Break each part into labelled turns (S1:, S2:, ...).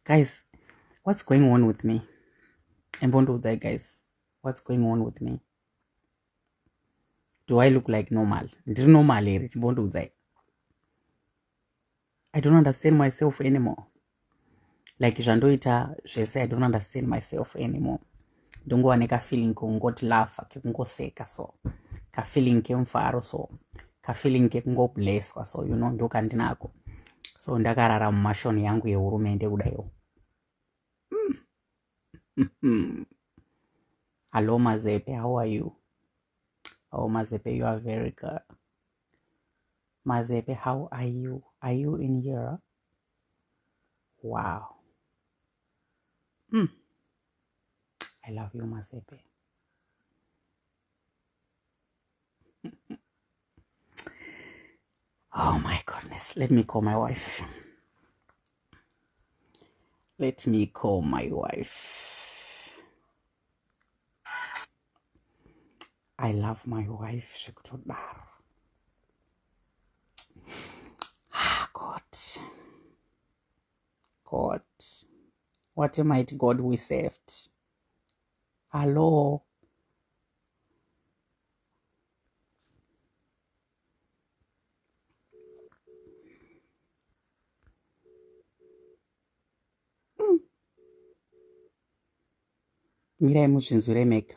S1: guys what's going on with me embondiudzai guys what's going on with me do i look like normal ndiri normal here chimbondiudzai i don't understand myself anymore like zvandoita zvese i don't understand myself anymore ndongova nekafeeling kekungoti lafa kekungoseka so kafeeling kemufaro so kafeeling kekungoblesswa so you know ndokandinako so ndakarara mumashoni yangu yehurumende kudaiwo hallo mazepe how are you how oh, mazepe you are very good mazepe how are you are you in europe wow mm. i love you masepe oh my goodness let me call my wife let me call my wife i love my wife zvekutodaro God, what a mighty God we served. Hello. Mm. mirai muzvinzwire mega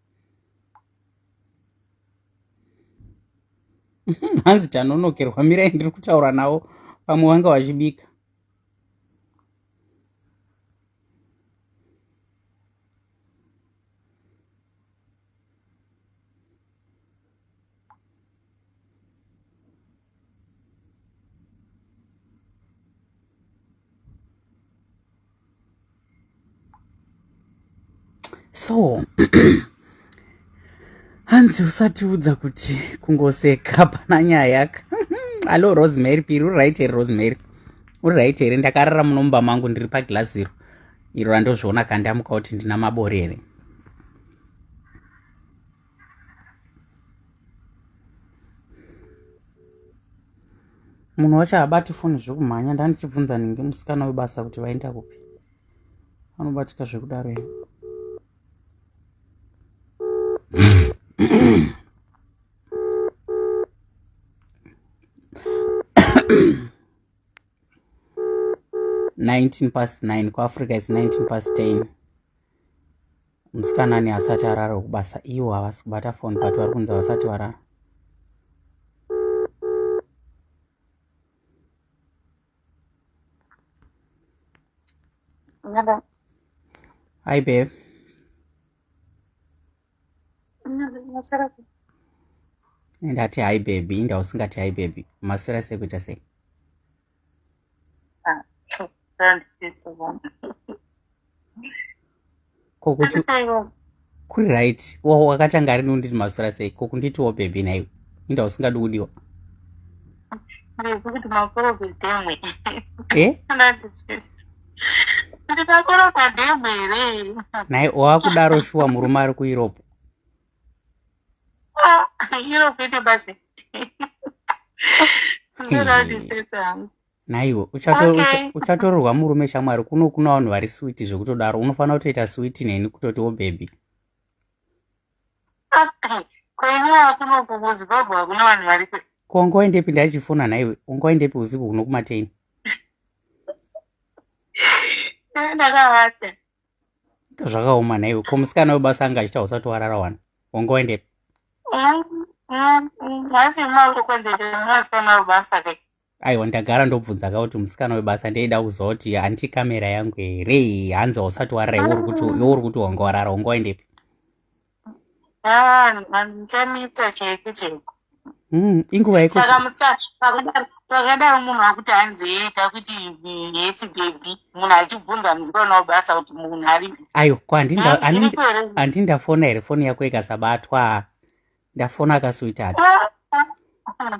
S1: hanzi tanonokerwa mirai ndiri kutaura navo pamwe vanga vachibika so hanzi usatiudza kuti kungoseka pana nyayaka hallo rosemary piri uri right here rosemary uri right here ndakarara munomba mangu ndiri paglazi iro iro randozviona kandamuka kuti ndina mabori here munhu wacho haabati foni zvekumhanya ndandichibvunza nhingi musikana webasa kuti vaenda kupi anobatika zvekudaro ivo nineteen past nine kuafrica its nineteen past ten musikana ne asati arara wekubasa iwo havasi kubata foni but vari kunzi havasati varara hi babe ndati hi baby inda usingati hi baby maswera sekuita sei kuri right wakatanga rini unditi masura sei ko kunditiwo bhebhi naiwe inda usingadi kudiwa ndikuti makoro kudemwe eh?
S2: ndikakoro pademwe here nai wakudaro
S1: shuwa murume ari kueurope
S2: Ah, iro vhidhiyo basi. Ndinodatiseta
S1: hangu. naiwe uchato- Okay. ucha- uchatororwa murume shamwari kuno kuna vanhu vari switi zvekutodaro unofanira kutoita switi neni kutotiwo bhebhi Ah, Kwenyaa kuno kuZimbabwe hakuna vanhu vari kwe. ko ungaendepi ndachifona naiwe ungaendepi usiku kuno kumateni
S2: Ndakavata.
S1: zvakaoma nhaiwe ko musikana webasa anga achita usati warara wani wanga waendepi
S2: aiwa ndagara
S1: ndobvunza ka kuti musikana webasa ndeida kuziva kuti hanti kamera yangu here hanzi hausati warara iwe uri kuti wanga warara wanga waendepi Ah,
S2: ndichamuita chaiku chaiku. Mm, inguva
S1: yeko. Saka musa pakadaro
S2: pakadaro munhu akuti hanzi yeita kuti hesi baby munhu achibvunza muziko unawo basa kuti munhu ari. Ayo kwa andinda
S1: andinda fona here foni yako ikasabatwa. Ndafona akasuita ati. Ah, ah, ah.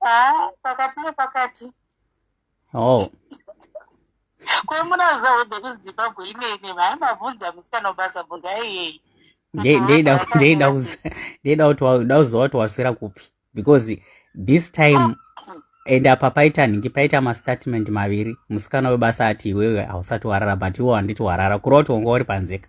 S2: haa pakati nepakati oh kwemuraza wode kuzimbabwe imene mhai mabvunza musikana ubasa bvunza
S1: iyei ndeida kuti uda kuziva kuti waswera kupi because this time and apa paita nhingi paita mastatement maviri musikana webasa ati iwewe hausati warara but iwo handiti warara kureva kuti wanga uri panzeka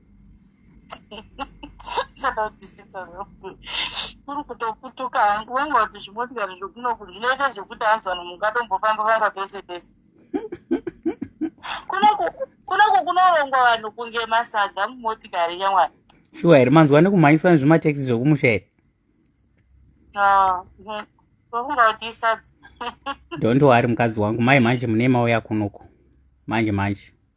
S2: kuri kutokutuka hangu wanga kuti zvimotikari zvokunoku zvinoita zvekuti anzwa nomungatombofamba vanga pese pese kunoku kunorongwa vanhu kunge masaga mumotikari yamwana shuwa here manzwa
S1: nekumhanyiswa nezvimatekisi zvokumusha here
S2: vakungautiisadza don't
S1: worry mukadzi wangu mai manje mune mauya kunoku manje manje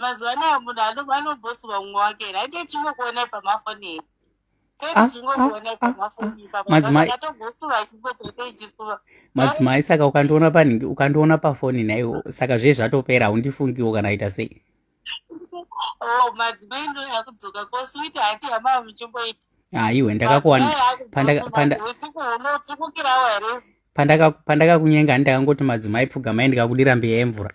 S2: mazuva anaya munhu anobhosirwa mumwe wake here aite chingokuonai pamafoni
S1: here madzimai saka ukandiona panhingi ukandiona pafoni naiwo saka zve zvatopera haundifungiwo kana aita sei
S2: oh, madzimai
S1: ndoyakudzoka kosuiti hati hama muchimboita haiwe ndakakuwana pandakakunyenga handakangoti madzimai pfugamai ndikakudira mbiya yemvura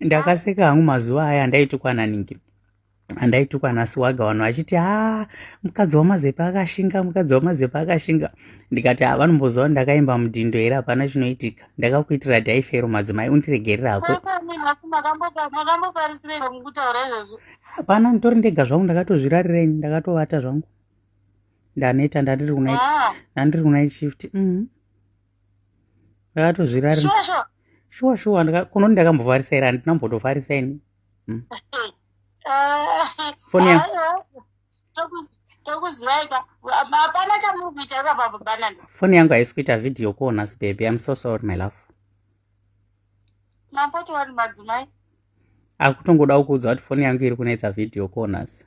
S1: ndakaseka hangu mazuva aya andaitukwa naningi andaitukwa nasiwaga vanhu vachiti ha ah, mukadzi wamazepe akashinga mukadzi wamazepe akashinga ndikati ha ah, vanomboziva ndakaimba mudhindo here hapana chinoitika ndakakuitira dhaifero madzimai undiregerera hako hapana nditori ndega zvangu ndakatozvirarireini ndakatovata zvangu ndaneta ndandiri kunandiri ah. kunait shift mm -hmm. ndakatozvirari sure sure shuwa shuwa kunoni ndakambovharisa here handina mbotovharisa ini hmm. foni ya
S2: foni yangu haisi kuita
S1: vhidhiyo kuona sibebe im so sorry my love mambotiwani
S2: madzimai akutongoda
S1: kukuudza kuti foni yangu iri kunetsa vhidhiyo kuonasi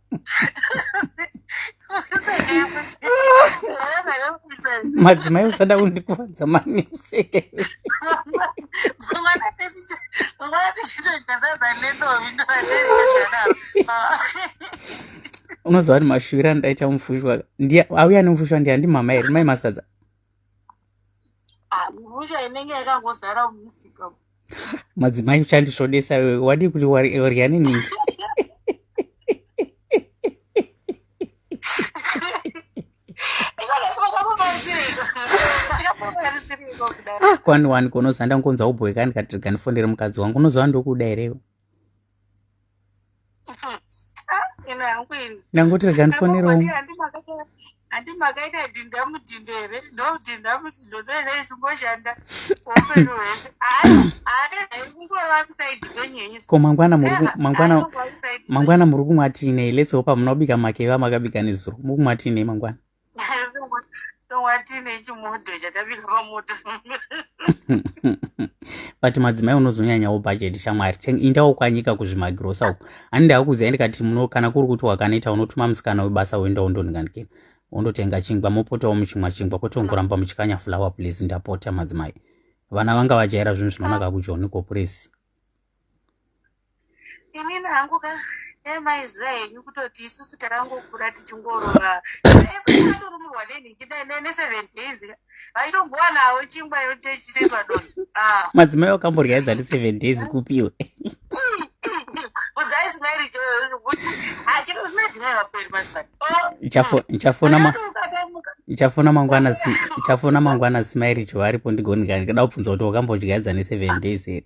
S1: madzimai usada kundikuvadza mani useke unoziva kuti mashuviro andaita mufushwa auya nemufushwa ndiya ndimama here mai masadza Ah,
S2: mhusha inenge yakangozara mumusika umu. madzimai
S1: uchandisvodesa wewe wadii kuti wari- wadya neningi Ikolasi vakamubatsirika. Vakamubatsirika kudaro. ah kwani wani kunozanda ngonza ubhoyekani kati ganifondere mukadzi wangu unoziva ndokuda here iwe? ndangoti rega ndifonerewo handi
S2: makaita dhinda mudhindo here ndodhinda mudhindo ndoene ichingoshanda upenyu hwese haikungoravakusaidi kwenyenyu ko mangwana
S1: mangwana muri kumwa tiinei let's hope munobika makeva makabika nezuro muri kumwa tiinei mangwana watine
S2: chimodho chakabika
S1: pamoto but madzimai unozonyanyawo bhajeti shamwari indawo kwanyika kuzvimagirosa uku ani ndakuziva ndikati muno kana kuri kuti wakanoita unotuma musikana webasa woenda wondonhingandikira wondotenga chingwa mopotawo muchimwa chingwa kwete ungoramba muchikanya fulawa please ndapota madzimai vana vanga vajaira zvinhu zvinonaka kujoni ko puresi
S2: inini hangu ka emaiziva henyu kutoti isusu takangokura tichingorova atorumurwa nenhingi neseven days vaitombowanavo chingwa yochechiteswa doni ah. madzimai
S1: wakamborya edzati seven days kupiwe udzai
S2: simairi kuti hachino zina dzimai vaperi mazivani ndichafona
S1: mangwana ndichafona mangwana simairi jo aripo ndigonigani kada kubvunza kuti wakambodya edza neseven days here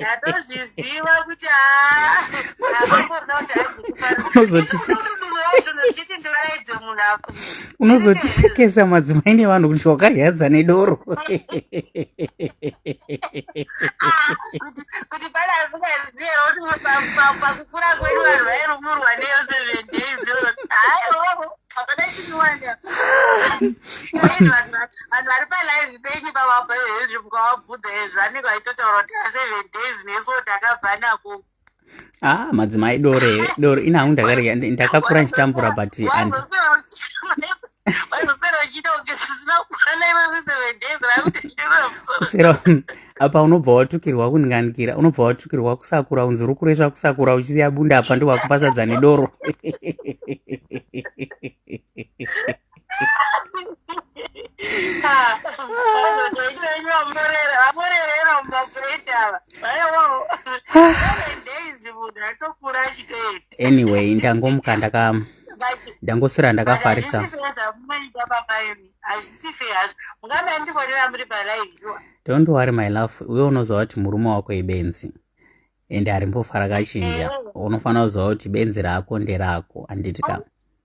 S2: ndatozviziva
S1: kuti unozotisekesa madzimai nevanhu kuti wakaryadza nedoro
S2: kuti pane asingaziva kuti pakukura kwedu vanhu vairumurwa neyo seven days vanhu vari
S1: palive penyu pavabva henzi mukavabvudza ezvo anenge aitotaura kuti aseven days nesu wo takabva nako ah madzimai dore dore ini
S2: hangu ndakarega ndakakura ndichitambura but and
S1: sero apa unobva watukirwa kuninganikira unobva watukirwa kusakura unzi uri kuresva kusakura uchisiya bunda apa ndiwakupasadza nedoro anyway ndangomuka ndaka ndangoswera ndakafarisa don't worry my love uye unoziva kuti murume wako ibenzi ende arimbofara kachinja eh. unofanira kuziva kuti benzi rako nderako handiti ka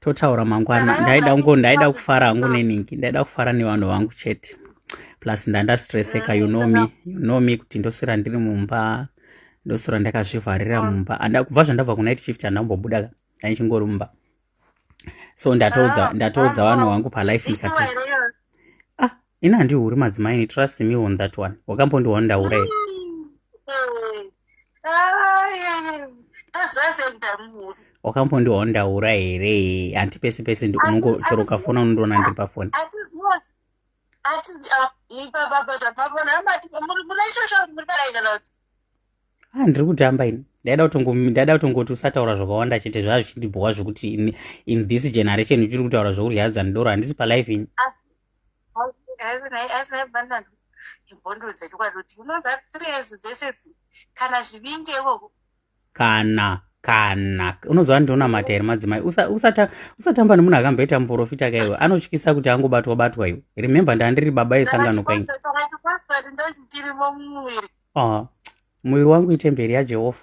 S1: totaura mangwana ndaida kungo ndaida kufara hangu neningi ndaida kufara nevanhu vangu chete plus ndandastresseka you know me you know me kuti ndoswera ndiri mumba ndoswera ndakazvivharira mumba anda kubva zvandabva kunight shift handambobuda ndaichingori mumba so ndatoudza ah, ndatoudza ah, vanhu ah. vangu palife ndikati ini handihuri madzimai ni trust me on that one wakambondiwa ndaura here wakambondiwa ndaura here hanti pese pese unongo chero ukafona unondiona ndiri pafoni ah, ndiri kutamba ini ndaida kutongomdaida kutongoti usataura zvakawanda chete zvazvichindibhowa zvekuti in this generation uchiri kutaura zvekudya dzanidoro handisi palife ini kana kana unoziva ndionamata here madzimai usatamba nemunhu akamboita muprofita kaiwe anotyisa kuti angobatwa batwa iwe remembe ndandiri baba yesangano kwainge ah, muviri wangu itemberi yajehovha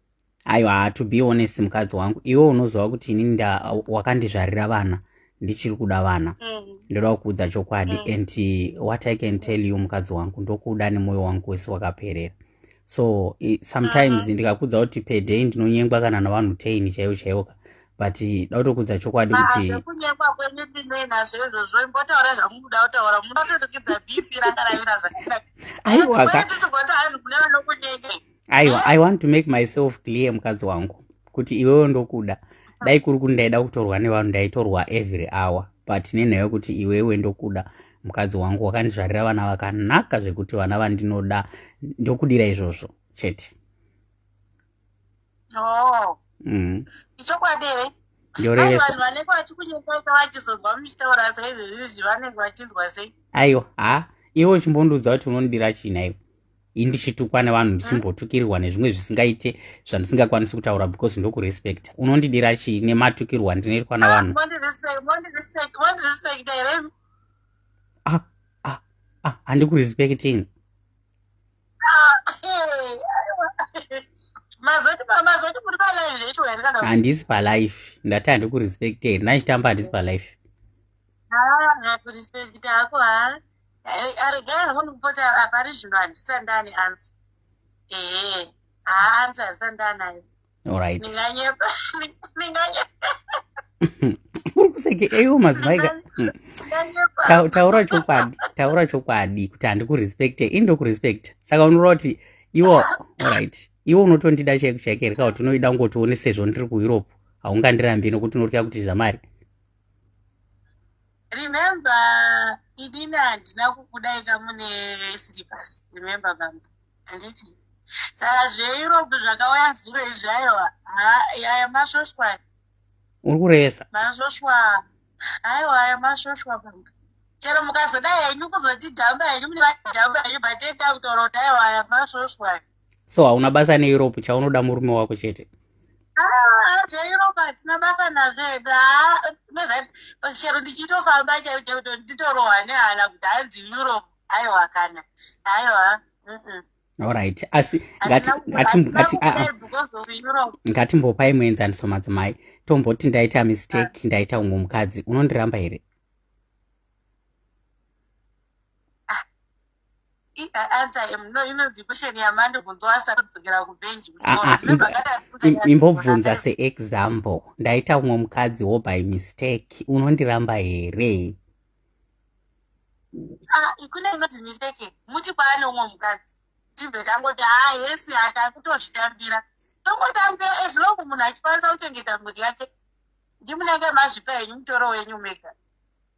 S2: aiwa to
S1: be honest mukadzi wangu iwe unoziva kuti inini wakandizvarira vana ndichiri kuda vana mm. ndoda kukuudza chokwadi mm. and uh, what i can tell you mukadzi wangu ndokuda nemwoyo wangu wese wakaperera so sometimes mm. ndikakuudza kuti peday ndinonyengwa kana navanhu teini chaivo chaivo ka but da kutokuudza chokwadi ah, kuti zvekunyengwa kwenyu
S2: ndinoinazvo izvozvo imbotaura zvamunoda kutaura
S1: munototukidza
S2: bp ranga ravira zvakaiwaka aiwa i want to
S1: make myself clear mukadzi wangu kuti iwewo ndokuda dai kuri kuti ndaida kutorwa nevanhu ndaitorwa every hour but nenhaya yokuti iwewe ndokuda mukadzi wangu wakandizvarira vana vakanaka zvekuti vana vandinoda ndokudira izvozvo chete oh.
S2: mm. ichokwadi here ndorevesavanhu vanenge
S1: vachikunyengaika
S2: vachizonzwa muchitaura saizvezvizvi vanenge vachinzwa sei aiwa ha
S1: iwe uchimbondiudza kuti unondira chii naiwe i ndichitukwa nevanhu ndichimbotukirwa nezvimwe zvisingaite zvandisingakwanisi kutaura because ndokurespecta unondidira chii nematukirwa ndinoitwa navanhu ah,
S2: ah,
S1: ah, handikurespecting
S2: handisi palife
S1: ndati handikurespecte here ndachitamba handisi palife
S2: hakurespect hako ha aregai honi kupota apari zvino handisandani
S1: ansa ee haa ansa
S2: handisandanayo orit ndinganyepa
S1: ndinganyepa uri kuseke eyo madzimai hmm. taura chokwadi taura chokwadi kuti handikurespecte ini ndokurespecta saka unoreva kuti iwo orit iwe unotondida chaiko chaiko here ka kuti unoida kungoti one sezvo ndiri kueurope haungandirambi nokuti unotya kutiza mari
S2: remember inini handina kukudaika mune slipers remember bamba handiti saka zveeurope zvakauya zuro izvi aiwa aya masvoswa uri
S1: kuresa masvoswa
S2: aiwa aya masvoswa bamba chero mukazodai henyu kuzotidhamba henyu mune vadhamba henyu but enda kutaura kuti aiwa aya masvoswa so hauna
S1: basa neeurope chaunoda murume wako chete ah,
S2: zveeurope hatina basa nazvo hedu ah, chero ndichitofamba chaichauto nditorohwa nehana kuti hanzi europe aiwa kana
S1: aiwa allright asi ngatimbopai muenzaniso madzimai tomboti ndaita mistake ah. ndaita umwe mukadzi unondiramba here
S2: imbobvunza
S1: seexample ndaita umwe mukadzi wo by mistake unondiramba here
S2: ah, kune inoti mistake muti kwaane umwe mukadzi tibve tangoti ha ah, hesi hata kutozvitambira tongotambira as long munhu achikwanisa kuchengeta mhuri yake ndimunenge mazvipa henyu mutoro wenyu mega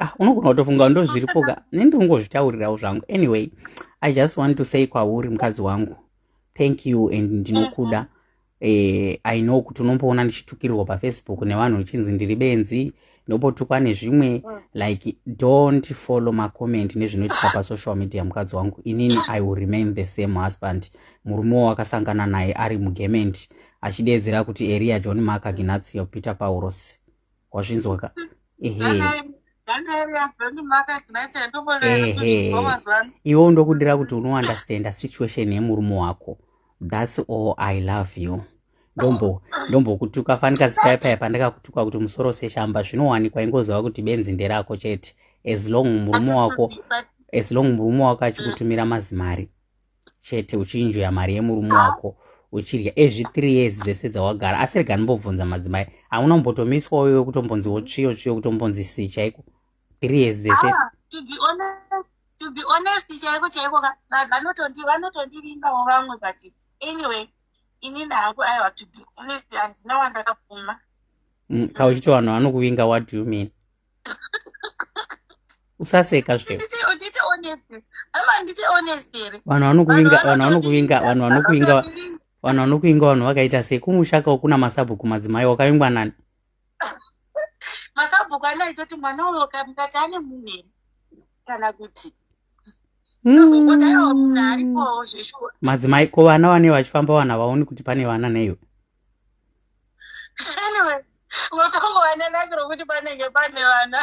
S1: ah, unogona kutofunga ndo zviripoka ne ndongozvitaurirawo zvangu anyway i just want to say kwauri mukadzi wangu thank you and ndinokuda mm -hmm eh, i know kuti unomboona ndichitukirwa pafacebook nevanhu uchinzi ndiri benzi ndopotukwa nezvimwe mm. like don't follow macomment nezvinoitika pasocial media mukadzi wangu inini i will remain the same husband murume wo wakasangana naye ari mugement achideedzera kuti eria john mark aginatio peter paurosi wazvinzwa ka ehe iwe ndokudira kuti unounderstanda situation yemurume wako thats all i love you ndombo ndombokutuka fanika zikaipaya pandakakutuka kuti musoro seshamba zvinowanikwa ingoziva kuti benzi nderako chete as long murume wako as long murume wako achikutumira mazimari chete uchinjoya mari yemurume wako uchidya ezvi three years dzese dzawagara asi rega ndimbobvunza madzimai hauna kumbotomiswa uyo wekutombonzi wotsviyo tsviyo kutombonzi si chaiko three years dzese ah,
S2: to be honest chaiko chaiko vanotondivimbawo vamwe but anyway inini hangu aiwa to be honest handina wandakapfuma mm, kauchiti
S1: vanhu vanokuvinga what do you mean usaseka zve vanhu
S2: vanokuvinga vanhu vanokuvinga vanhu
S1: vanokuvinga vanhu vanokuvinga vanhu vakaita sei kumushaka ukuna masabhuku madzimai wakavingwa nani
S2: masabhuku anoitoti mwana uyo kamukati ane munhu kana kuti madzimai ko vana vane
S1: vachifamba vana vaoni kuti pane vana neiwe
S2: anyway votongowananakiro kuti panenge pane vana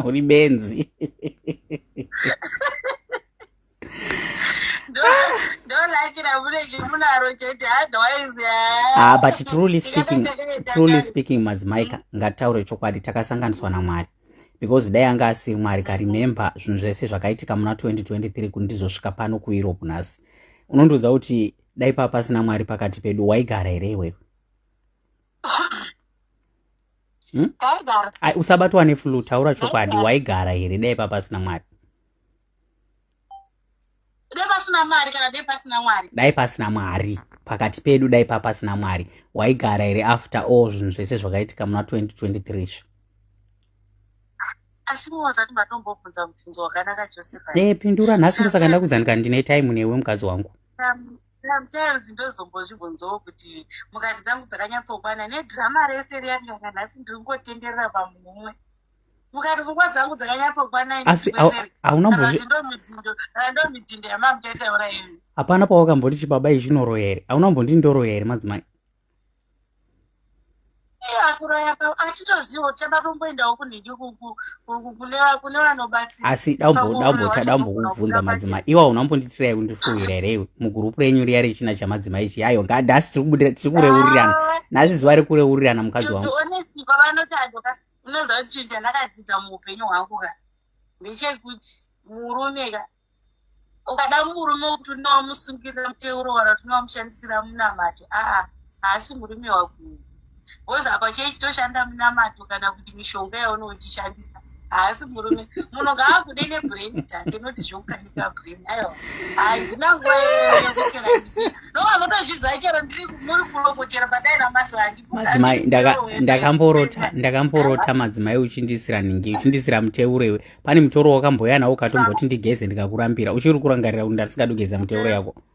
S1: uri benzi
S2: ah, but truly
S1: speaking truly speaking madzimai ngataure chokwadi takasanganiswa namwari because dai anga asiri mwari karemember zvinhu zvese zvakaitika muna 2023 kuti ndizosvika pano kueurope nhasi unondiudza kuti dai paa pasina mwari pakati pedu waigara here iwewe hmm? usabatwa neflu taura chokwadi waigara here dai paa pasina mwari
S2: dai pasina mari kana dai pasina mwari dai pasina mwari
S1: pakati pedu dai papasina mwari waigara here after all zvinhu zvese zvakaitika muna 2023
S2: e pindura nhasi ndosaka
S1: ndakuzanika ndine time newe mukadzi wangu sometimes
S2: ndozombozvibvunzawo kuti mukati dzangu dzakanyatsokwana nedrama rese riyariranga nhasi ndiri ngotenderera pamunhu umwe mukati pfungwa dzangu dzakanyatsokwana asi
S1: haunambondomidhindo
S2: yamamuchaitaura imi hapana pawakamboti
S1: chibaba ichi chinoroya here hauna mbondi ndoroya here madzimai akuroya
S2: pa achitoziva kuti tabatomboendawo kunhingi kune vanobatsira
S1: asi daumbokubvunza madzimai iwa unambonditira ye kundifuhira here iwe mugurupu renyu riya rechina chamadzimai ichi ayo ngadhasi tiri kureurirana nhasi zuva rekureururana mukadzi wangu
S2: unoziva kuti chinhu chandakadzidza muupenyu hwangu ka ndechekuti murume ka ukada murume wekuti unowamusungirira muteuro kana kuti unowamushandisira munamato aa haasi murume wakuyu bcause apa chei chitoshanda munamato kana kuti mishonga yaunochishandisa haasi murume munhu ngaakude nebrain take not zveukaa handina nguva yekuswera ndovanotozviziva chero ndiri muri kuloko chero padai ramazuva andimadzimai
S1: ndakamborota ndakamborota madzimai uchindisira nhingi uchindisira muteuro iwe pane mutoro wakamboya nawo ukatomboti ndigeze ndikakurambira uchiri kurangarira kuti ndasingadogeza mutoro yako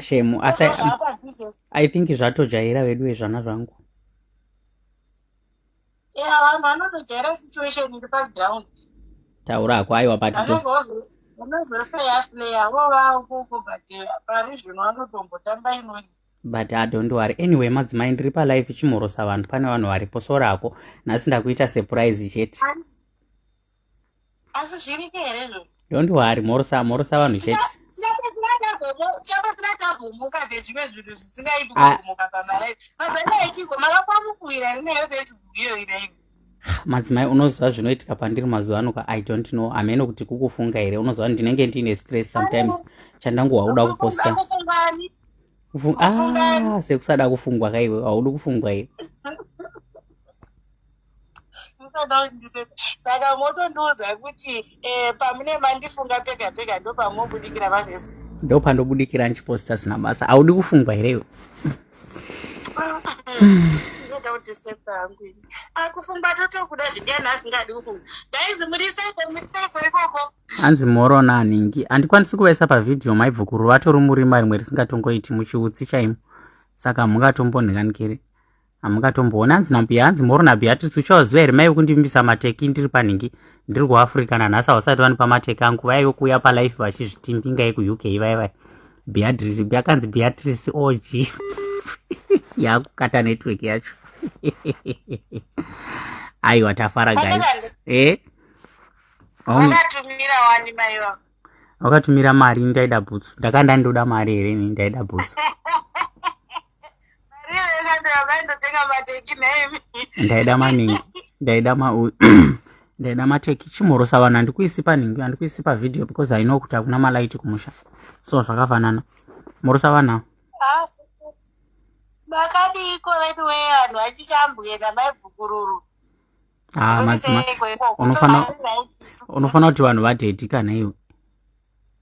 S2: shemu
S1: asi i think zvatojaira vedu vezvana zvangu
S2: ya vanhu vanotojaira situation iri paground taura hako
S1: aiwa patito unozoseyasleya
S2: vovaukuku but eh, pari zvino vanotombotamba inoi but adont
S1: worry anyway madzimai ndiri palife chimhorosa vanhu pane vanhu varipo sorako nhasi ndakuita surprise chete
S2: asi zviriko here zvo don't worry morosa
S1: morosa vanhu chete chabatsira tavhumuka nezvimwe zvinhu zvisingaiti
S2: ah. kuvhumuka pamalaii mazana echiko makakwamukuira rinayo facebook iyo iraivo madzimai
S1: unoziva zvinoitika pandiri mazuva ano ka i don't know ameno kuti kukufunga here unoziva ndinenge ndiine stress sometimes chandanguhwa kuda kuposta ah, sekusada kufungwa kaiwe haudi kufungwa here
S2: saka motondiudza kuti eh, pamune mandifunga pega pega ndopamobudikira vavese ndopandobudikira
S1: ndichiposta zina basa audi kufungwa here iwe ndoda
S2: kuti seta hangu ini akufumba totokuda zvidiyani asingadi kufumba daizi muriseiko muriseiko ikoko hanzi mhoro
S1: naningi handikwanisi kuvaisa pavhidhiyo maibvo kuruva tori murima rimwe risingatongoiti muchiutsi chaimo saka mungatombonhiranikiri hamungatomboona hanzi nambuya hanzi morona beatrice uchawaziva here maive kundimbisa mateki ndiri panhingi ndiri kuafrica nanhasi hausati vanipa mateki angu vaive kuuya palife vachizvitimbinga yekuuk vaya vaya beatrice yakanzi beatrice og yakukata network yacho aiwa tafara guys eh?
S2: wakatumira
S1: mari ndaida bhutsu ndakanda ndoda mari here ni ndaida bhutsu ndaida maningi ndaida ma ndaida mateki chimhorosa vanhu handikuisi panhingi handikuisi pavideo because i know kuti hakuna malaiti kumusha so zvakafanana mhorosa vanhu ah, makadiiko
S2: veduwe vanhu vachichambwena
S1: maibvukururu ah, unofanira kuti vanhu vadhedhika naiwe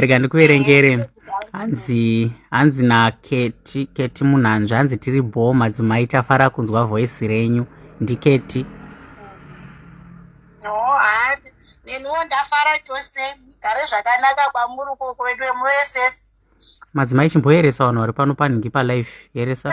S1: rega ndikuverengere hanzi hanzi naketi keti munhanzvi hanzi tiri bhoo madzimai tafara kunzwa voisi renyu ndiketi
S2: neniwo ndafara chose gare zvakanaka kwamuri ukoko vedu vemuss madzimai
S1: chimboyeresa vanhu vari pano panhingi palife yeresa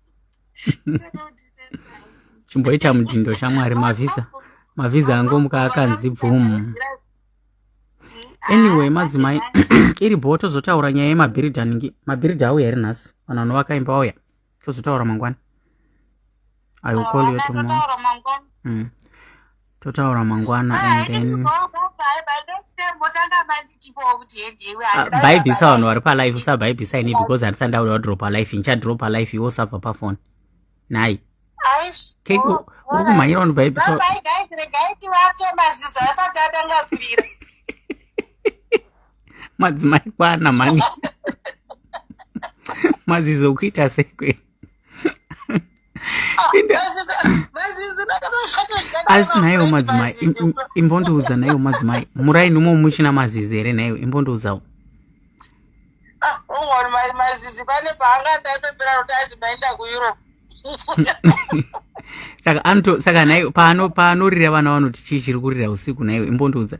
S1: chimboita mudhindo shamwari mavhiza mavhiza angomuka akanzi bvumu anyway madzimai iri bho tozotaura nyaya yemabhiridhi anenge mabhiridhi auya here nhasi vanhu vanovaka imba vauya tozotaura mangwana i will call you tomorrow mm. totaura mangwana and then bhaibhisa ah, vanhu vari palife usabhaibhisa ini because handisati ndauda wadrop alife ndichadrop alife iwe usabva pafoni nhai keiko oh, uri kumhanyira vanhu bhaibhisa madzimai kwana mhani mazizo kuita sekwenu asi naiwo madzimai imbondiudza naiwo madzimai muraini umo muchina mazizi here naiwo imbondiudzawo
S2: mazizi pane paanga ndapepera kuti azi maenda kueurope
S1: saka anoto saka naiwo paano paanorira vana vanoti chii chiri kurira usiku naiwo imbondiudza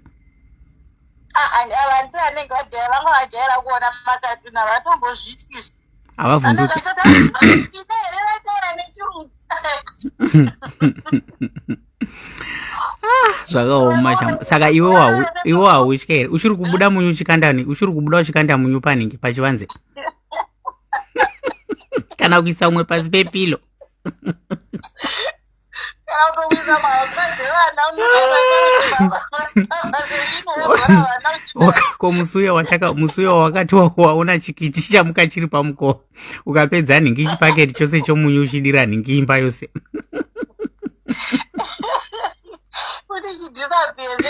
S1: ah, ah,
S2: vantu anenge vajaira vanga vajaira kuona makatuna vatombozvityizvi havavhunduki
S1: ah, zvakaoma shambo saka iwe hautya here uchiri kubuda munyu uchikandani uchiri kubuda uchikanda munyu paningi pachivanze kana kuisa umwe pasi pepilo kana kutokuisa mahapwa dzevana ko musuya wataka musuya wakati waona chikiti chamuka chiri pamukova ukapedza nhingi chipaketi chose chomunyu uchidira nhingi imba yose kuti chidisapezve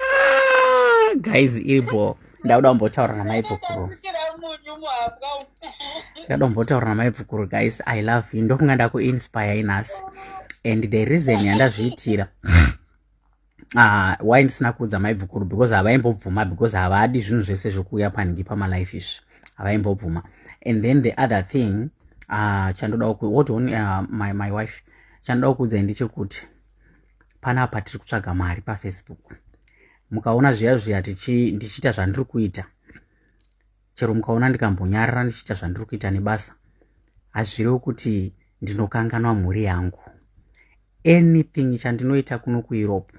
S1: ah, guys iri bho ndauda kumbotaura namaibvukuru ndauda kumbotaura namaibvukuru guys i love you ndokunga ndakuinspire inhasi and the reason yandazviitira uh, why ndisina kuudza maibvukuru because havaimbobvuma because havadi zvinhu zvese zvokuuya panhingi pamalife izvi havaimbobvuma and then the other thing uh, chandoda what uh, my, my wife chandoda kuudza ndechekuti panapa tiri kutsvaga mari pafacebook mukaona zviya zviya ndichiita zvandiri kuita chero mukaona ndikambonyarara ndichiita zvandiri kuita nebasa hazvirewo kuti ndinokanganwa mhuri yangu anything chandinoita kuno kueurope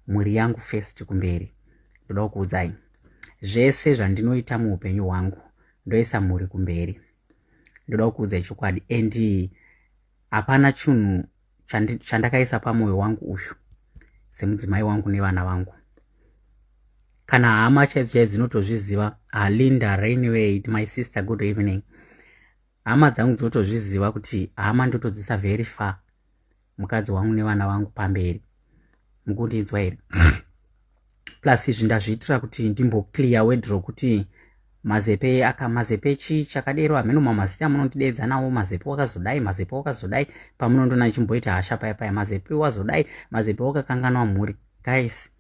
S1: mhuri yangu first kumberi ndoda kukuudzai zvese zvandinoita muupenyu hwangu ndoisa mhuri kumberi ndoda kukuudzai chokwadi and hapana chinhu chandakaisa pamwoyo wangu uyu semudzimai wangu nevana vangu kana hama chaidzo chaidzo dzinotozviziva alinda rainway my sister good evening hama dzangu dzinotozviziva kuti hama ndotodzisa very far mukadzi wangu nevana vangu pamberi mukundinzwa here plus izvi ndazviitira kuti ndimboclear wedro kuti mazepe aka mazepe chii chakadero hameno mamazita amunondideedza nawo mazepe wakazodai mazepe wakazodai pamunondona ichimboita hasha paya paya mazepe wazodai mazepe wakakanganwa mhuri guys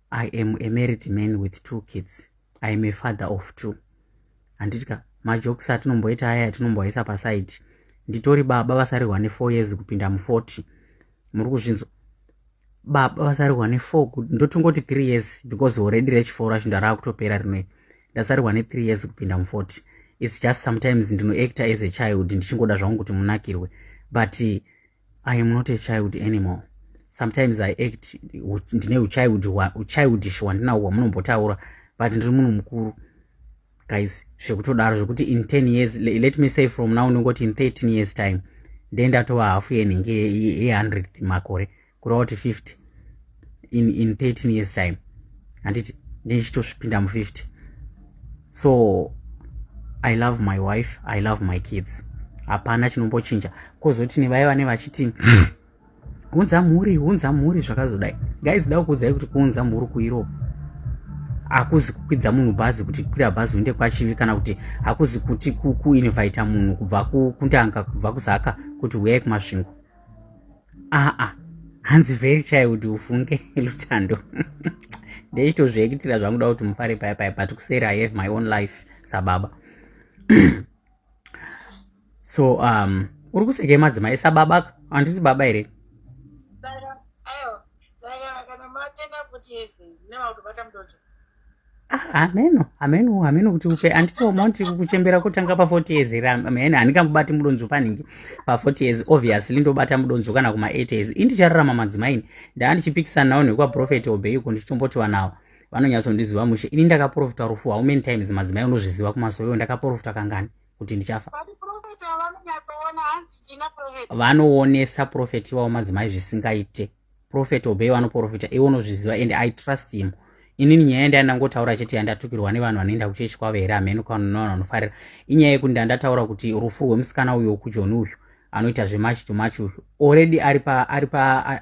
S1: i am a married man with two kids i am a father of two handiti ka majokisi atinomboita aya atinomboaisa pasaidi nditori baba vasarihwa nefour years kupinda muforty muri kuzvinzwa baba vasarihwa nefour kuti ndotongoti three years because already rechifour racho ndaraakutopera rinoe ndasarihwa nethree years kupinda muforty its just sometimes ndinoactor as a child ndichingoda zvangu kuti munakirwe but i am not a child anymore sometimes i act ndine uchildish hwandinahwo hwamunombotaura but ndiri munhu mukuru guys zvekutodaro zvekuti in 10 years let me say from now ndingoti in 13 years time then ndatova hafu yenhingi ye100 makore kureva kuti 50 in, in 13 years time handiti ndichitosvipinda mu50 so i love my wife i love my kids hapana chinombochinja kozoti nevaye vane vachiti hunza mhuri hunza mhuri zvakazodai guys da kuudzai kuti kuunza mhuri kueurope hakuzi kukwidza munhu bhazi kuti kwira bhazi uende kwachivi kana kuti hakuzi kuti kuinvita munhu kubva kundanga kubva kuzaka kuti huyai kumasvingo aa hanzi very child ufunge lutando ndeichitozviekitira zvanguda kuti mufare paya paya but kuseri i have my own life sababa so um uri kusekei madzimai sababa handisi baba here hameno ah, hameno hameno kuti upe anditooma kuti kuchembera kotanga pa40 years here hameno handikambobati mudonzvo paningi pa40 years obviously ndobata mudonzvo kana kuma8 years indichararama madzimaini ndaa ndichipikisana nawo nekwaprofeti obeiko ndichitomboti vanawo vanonyatsondiziva mushe ini ndakaprofita rufu how many times madzimai unozviziva kumasoyo ndakaprofita kangani kuti ndichafa vanoonesa profeti ivavo madzimai zvisingaite profeti obey vanoprofita iwe unozviziva and i trust him inini nyaya yandaya ndangotaura chete yandatukirwa nevanhu vanoenda kuchechi kwavo here hameno kanonavanhu vanofarira inyaya yekuti ndandataura kuti rufu rwemusikana uyo kujoni uyu anoita zvemachi to machi uyu already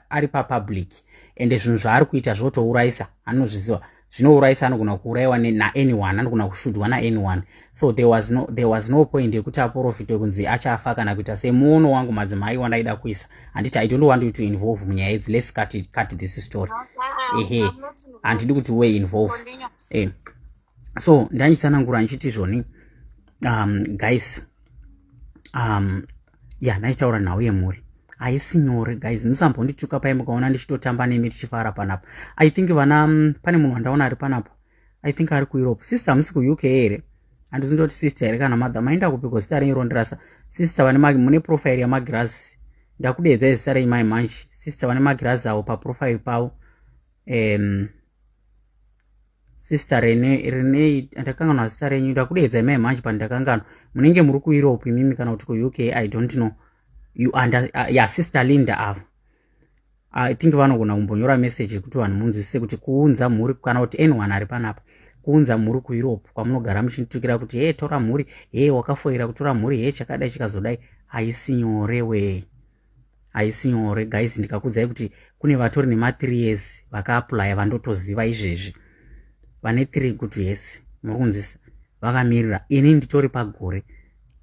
S1: ari papublic ende zvinhu zvaari kuita zvotourayisa anozviziva zvinourayisa anogona kuurayiwa naanyone anogona kushudwa naanyone so there was no, there was no point yekuti aporofitwe kunzi achafa kana kuita semuono wangu madzimai wandaida kuisa handiti i don't want you to involve munyaya idzi let's cut, it, cut this story ehe handidi kuti we involve eh. so ndanyitsanangura ndichiti zvoni um, guys um, ya naitaura nhau yemhuri haisi nyore guys musambondituka paye mukaona ndichitotamba nemi tichifara panapa i think vana mm, pane munhu wandaona ari panapa i think ari kueurope sister hamusi kuuk here handizi ndoti sister here kana mother maenda kupiko zita renyu rondirasa sister vane mune profile yamagirazi ndakudeedza izita renyu mai manchi sister vane magirazi avo paprofile pavo um, sister renei renei ndakanganwa zita renyu ndakudeedza imai manje pandakanganwa munenge muri kueurope imimi kana kuti kuuk i don't know you under uh, ya sister linda ava i think vanogona kumbonyora message yekuti vanhu munzwisise kuti kuunza mhuri kana kuti anyone ari panapa kuunza mhuri kueurope kwamunogara muchinitukira kuti hee tora mhuri hee wakafoira kutora mhuri hee chakadai chikazodai haisi nyore wee haisi nyore guys ndikakudzai kuti kune vatori nema 3 years vakaaplya vandotoziva izvezvi vane 3 good years muri kunzwisa vakamirira ini nditori pagore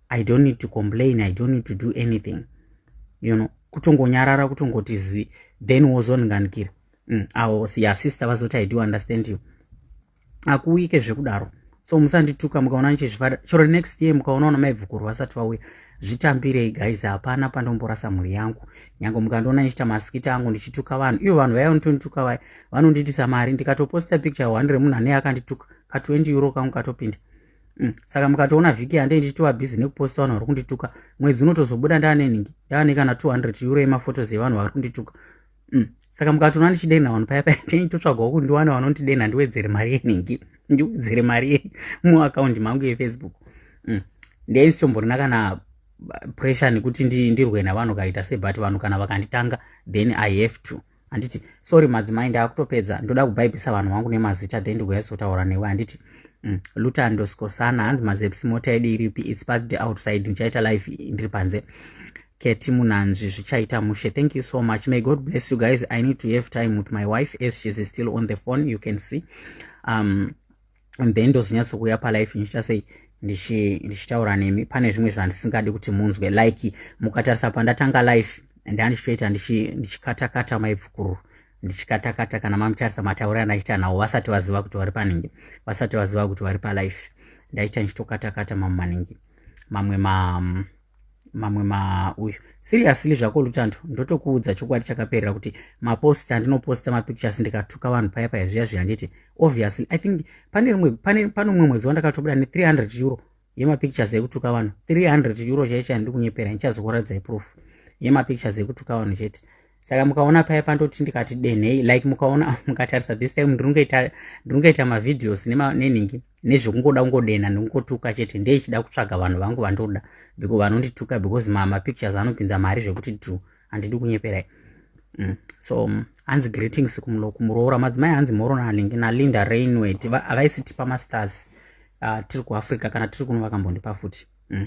S1: i don't need to complain i don't need to do anything you know kutongonyarara kutongoti zi then wozondiganikira mm, awo siya sister vazoti i do understand you akuuyike zvekudaro so musandituka mukaona nichizvifada chero next year mukaona ona maibvukurwa asati vauya zvitambirei guys hapana pandomborasa mhuri yangu nyange mukandiona nichiita masikita angu ndichituka vanhu ivo vanhu vaya vanotondituka vaya vanondiitisa mari ndikatoposta picture one remunhu anei akandituka ka 20 euro kangu katopinda mm. saka mukatoona vhiki yandei ndichitova busy nekuposta vanhu vari kundituka mwedzi unotozobuda ndaanenhingi ndaane kana 200 euro yemafotos evanhu vari kundituka mm. saka mukatoona ndichidenha vanhu paya paya tei totsvagawo kundiwana vanondidenha ndiwedzere mari yenhingi ndiwedzere mari ye muakaundi mangu yefacebook mm. ndeisombonina kana pressure nekuti ndirwe navanhu kaita se but vanhu kana vakanditanga then i have to handiti sorry madzimai ndaakutopedza ndoda kubhaibhisa vanhu vangu nemazita then ndigoyatsotaura newe handiti mm. lutando skosana hanzi mazeps mota yedu iripi its parked outside ndichaita life ndiri panze Keti Munanzvi zvichaita mushe. Thank you so much. May God bless you guys. I need to have time with my wife as she is still on the phone. You can see. Um, and then ndozonyatsokuuya palife ndichiita sei ndichitaura nemi pane zvimwe zvandisingadi kuti munzwe like mukatarisa pandatanga life ndandichitoita ndichikatakata maibvukuru ndichikatakata kana mamutarisa matauri andaita nawo vasati vaziva kuti vari panenge vasati vaziva kuti vari palife ndaita ndichitokatakata mamwe manenge mamwe ma um, mamwe mauyu seriously zvako lutando ndotokuudza chokwadi chakaperera kuti maposta andinoposta mapictures ndikatuka vanhu paya paya zviya zviya nditi obviously i think pane rimwe pane pane umwe mwedzi wandakatobuda ne 300 euro yemapictures ekutuka vanhu 300 euro chaicho andikunyepera ndichazokuradzai proof yemapictures ekutuka vanhu chete saka mukaona paya pandoti ndikati denhei like mukaona mukatarisa this time ndiringaita mavideos nenhingi nezvekungoda kungodenha nekungotuka chete ndeichida kutsvaga vanhu vangu vandoda because vanondituka because mamapictures anopinza mari zvekuti dru handidi kunyeperai mm. so mm, hanzi greetings kumuroora madzimai hanzi morona nalinda rainwet havaisitipa mastars ah, tiri kuafrica kana tiri kuno vakambondipa futi mm.